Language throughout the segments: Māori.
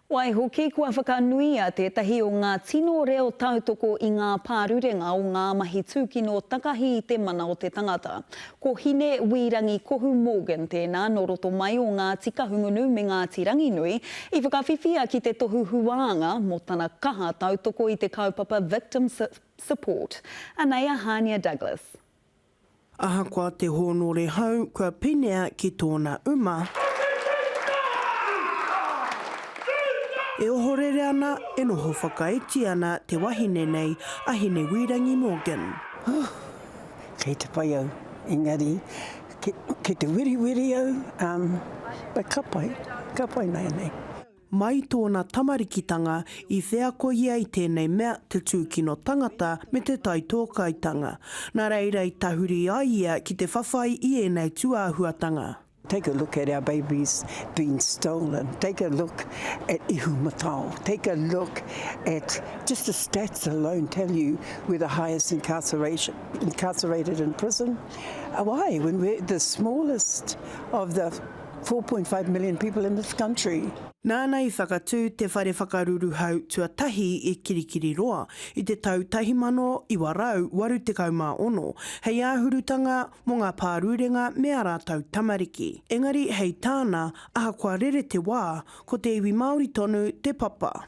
Waihoki, kua whakanuia tētahi o ngā tino reo tautoko i ngā pārurenga o ngā mahi tūkino takahi i te mana o te tangata. Ko Hine Wī Rangi Kohu Morgan tēnā nō roto mai o Ngāti Kahungunu me Ngāti Ranginui i whakawhiwhia ki te tohu huānga mō tana kaha tautoko i te kaupapa Victim Support. Anei a Hānia Douglas. Ahakoa te hōnore hau kua penea ki tōna uma. E ohorere ana, e noho whakaiti ana te wahine nei a Hinewīrangi Morgan. Huh! Kei te pai au, engari kei te wiriwiri au, um, but ka pai, ka pai nāianei. Mai tōna tamarikitanga, i wheako ia i tēnei mea te tūkino tangata me te taitōkaitanga. Nā reira i tahuri ai ia ki te whawhai i ēnei tūāhuatanga. Take a look at our babies being stolen, take a look at Ihumatao, take a look at, just the stats alone tell you we're the highest incarceration, incarcerated in prison, why, when we're the smallest of the. 4.5 million people in this country. Nāna i whakatū te whare whakaruruhau tuatahi i Kirikiriroa i te tau 1986 hei āhurutanga mō ngā pārurenga me ā rātou tamariki. Engari hei tāna, ahakoa rere te wā, ko te iwi Māori tonu te papa.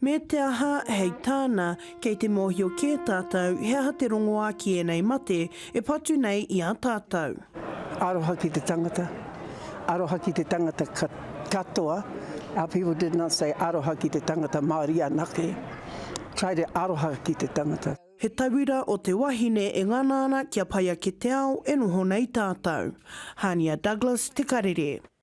Me te aha, hei tāna, kei te mōhio kē tātou he aha te rongoā ki ēnei mate e patu nei i a tātou. Aroha ki te tangata, aroha ki te tangata katoa, our people did not say aroha ki te tangata Māori anake, try to aroha ki te tangata. He tauira o te wahine e ngana ana kia pai ake te ao e noho nei tātou. Hania Douglas, Te Karere.